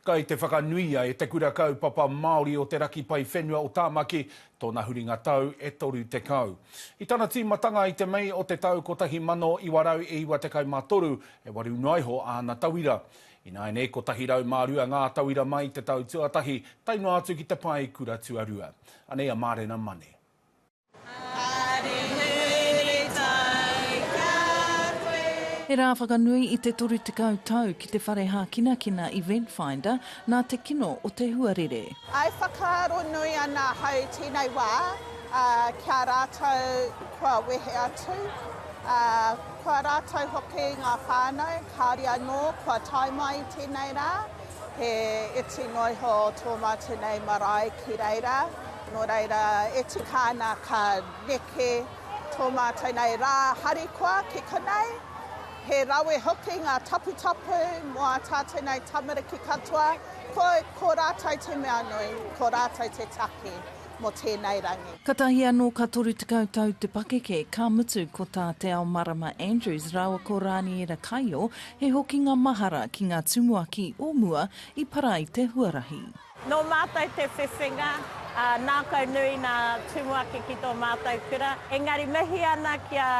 Kai te whakanuia e Te Kura Kaupapa Māori o Te Raki Pai Whenua o Tāmaki tōna huringa tau e 30. I tana tīmatanga i te Mei o te tau 1993, e waru noa iho āna tauira. Ināianei, 102 ngā tauira mai i te tau tuatahi, tae noa atu ki te pae kura tuarua. Anei a Mārena Mane. He rā whakanui i te 30 tau ki te whare hākinakina Event Finder nā te kino o te huarere. I whakaaro nui ana ahau tēnei wā ki a rātou kua wehe atu, ā, ko a rātou hoki ngā whānau kāore anō kua tae mai i tēnei rā. He iti noa iho tō mātou nei marae ki reira, nō reira e tika ana ka neke tō mātou nei rā harikoa ki konei. He rawe hoki ngā taputapu mō ā tātou nei tamariki katoa, ko, ko rātou te mea nui, ko rātou te take mō tēnei rangi. Katahi anō ka toru tekau tau te pakeke, ka mutu ko tā Te Ao Marama Andrews rāua ko Rāniera Kaio He hokinga mahara ki ngā tumuaki o mua i para i te huarahi. Nō mātou te whiwhinga, ā, nākau nui ngā tumuaki ki tō mātou kura. Engari mihi ana ki a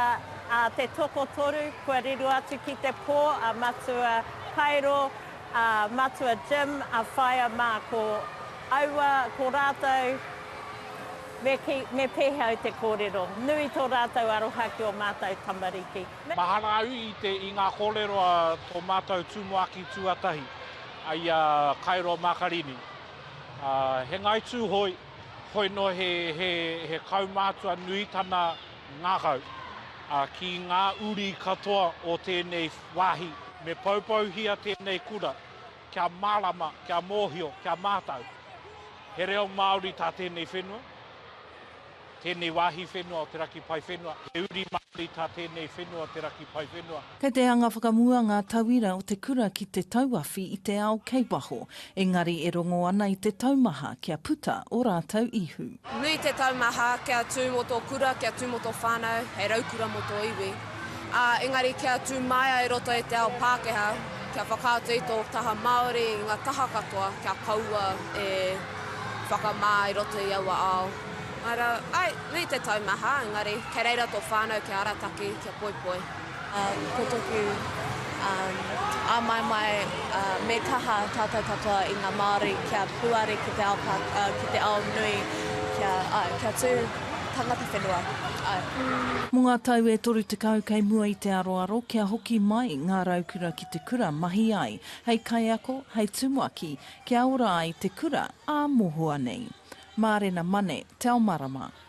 a te tokotoru kua riro atu ki te pō, a Matua Kairo, a Matua Jim, a Whaea mā, ko aua, ko rātou, me ki, me pēhea au te kōrero, nui tō rātou aroha ki ō mātou tamariki. Mahara au i te, i ngā kōrero a tō mātou tumuaki tuatahi, a ia Kairo Makarini. He Ngāi Tūhoe, hoi nō he, he, he kaumātua nui tana ngākau ki ngā uri katoa o tēnei wāhi. Me poupouhia tēnei kura kia mārama, kia mōhio, kia mātau. He reo Māori tā tēnei whenua. tēnei wāhi whenua o te raki pae whenua, he uri Māori tā tēnei whenua o te raki pae whenua. Kei te anga whakamua ngā tauira o te kura ki te tauawhi i te ao kei waho, engari e rongo ana i te taumaha kia puta ō rātou ihu. Nui te taumaha kia tū mō tō kura, kia tū mō tō whānau, hei raukura mō tō iwi, ā, engari kia tū māia i roto i te ao Pākehā, kia whakaatu i tō taha Māori i ngā taha katoa kia kaua e whakamā i roto i aua ao. Ara, ai, nui te tau maha, engari, kei reira to whanau kia arataki, kia poipoi. Ko toku amaemae, me kaha tatou katoa i nga Maori kia puare ki te ao pākā, ki te ao nui, kia, ai, kia tu tangata whenua, ai. Mo nga tau e toru tekau kei mua i te aroaro kia hoki mai nga Raukura ki te kura mahi ai hei kaiako, hei tumuaki, Kia ora ai te kura ā mohoa nei. Mārena Mane, Tell Marama,